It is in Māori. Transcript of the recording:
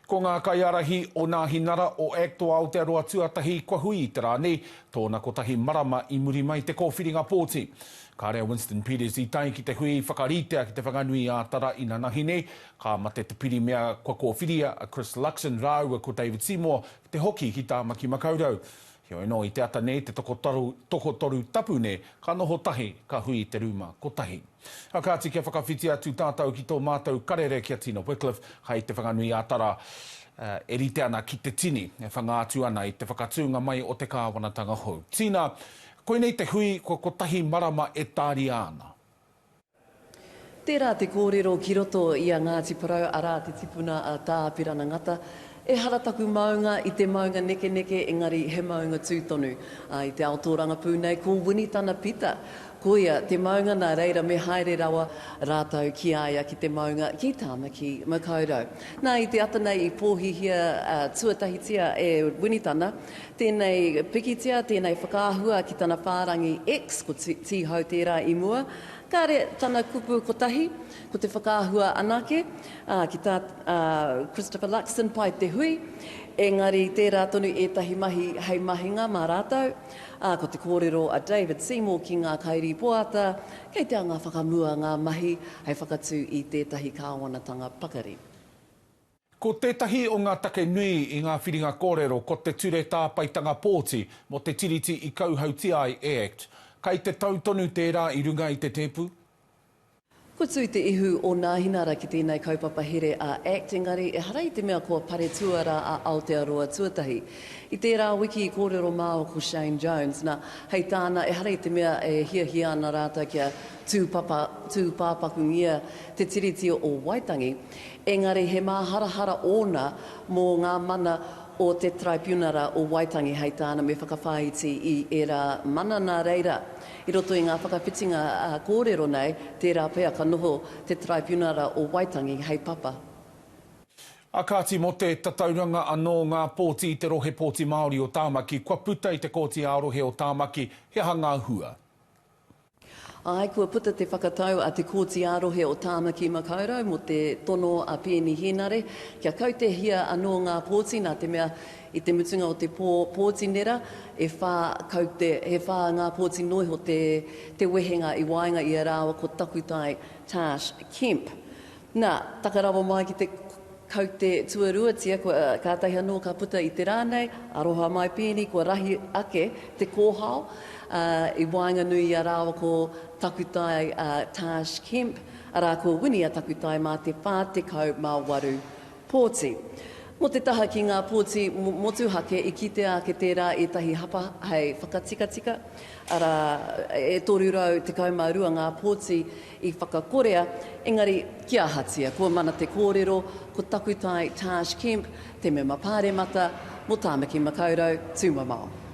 Ko ngā kaiārahi o Nāhinara, o act o Aotearoa tuatahi kua hui i te rā nei, tōna kotahi marama i muri mai te kōwhiringa pōti. Kāre a Winston Peters i tae ki te hui whakaritea ki Te Whanganui ā Tara inanahi nei, ka mate te pirimia kua kōwhiria a Chris Luxon rāua ko David Seymour te hoki ki Tāmaki Makaurau. Heoi anō, i te ata nei te tokotoru tapu nei, ka noho tahi, ka hui i te rūma kotahi. A kāti kia whakawhiti atu tātou ki tō mātou karere ki a Tina Wickliffe, hai Te Whanganui-ā-Tara, e rite ana ki te tini, e whanga atu ana i te whakatūnga mai o te kāwanatanga hou. Tina, koinei te hui kua kotahi marama e tāria ana. Tērā te kōrero ki roto i a Ngāti Porou, arā, te tipuna a Tā Pirana Ngata, Ehara taku maunga i te maunga nekeneke, engari he maunga tū tonu. Ā, i te ao tōrangapū nei, ko Wini tana pita. Koia te maunga nā reira me haere rawa rātou ki a ia ki te maunga ki Tāmaki Makaurau. Nā, i te ata nei i pōhihia tuatahitia e Wini tana Tēnei pikitia, tēnei whakaahua ki tana whārangi X, ko Tīhau tērā i mua. Kāre tana kupu kotahi, ko te whakaahua anake, ā, ki tā Christopher Luxon pai te hui, engari tērā tonu ētahi mahi hei mahinga mā rātou, ā, ko te kōrero a David Seymour ki ngā kairīpoata, kei te anga whakamua ngā mahi hei whakatū i tētahi kāwanatanga pakari. Ko tētahi o ngā take nui i ngā whiringa kōrero ko te Ture Tāpaetanga Pōti mō te Tiriti i kauhautia ai e act. Kai te tau tonu tērā i runga i te tēpu? Kua tū te ihu o Nāhinara ki tēnei kaupapa here a act, engari ehara i te mea kua pare tuarā a Aotearoa tuatahi. I tērā wiki i kōrero māua ko Shane Jones, nā, hei tāna ehara i te mea e hiahia ana rātou kia tūpapakungia te Tiriti o Waitangi, Engari he māharahara ōna mō ngā mana o te Taraipiunara o Waitangi hei tāna me whakawhāiti i ērā mana nā reira, i roto i ngā whakawhitinga kōrero nei, tērā pea ka noho te Taraipiunara o Waitangi hei papa. Ā kāti mō te tatauranga anō ngā pōti i te Rohe Pōti Māori o Tāmaki kua puta i te Kōti ā-Rohe o Tāmaki, he aha ngā hua? Āe, kua puta te whakatau a Te Kōti ā-Rohe o Tāmaki Makaurau mō te tono a Peeni Hēnare kia kautehia anō ngā pōti nā te mea i te mutunga o te pō pōti nera e whā kaute, he whā ngā pōti nō iho te wehenga i waenga i a rāua ko Takutai Tash Kemp. Na, taka rawa mai ki te kaute tuaruatia, kua, kātahi anō ka puta i te rā nei, aroha mai pēnei, kua rahi ake te kōhao, ā, i waenganui i a rāua ko Takutai, ā, Tash Kemp, arā, ko Winia Takutai mā te 48 pōti. Mō te taha ki ngā pōti motuhake, i kitea ake tērā ētahi hapa hei whakatikatika, arā, e 312 ngā pōti i whakakorea, engari ki ahatia? Kua mana te kōrero ko Takutai Taj Kemp te mema pāremata mō Tāmaki Makaurau, Tūmamao.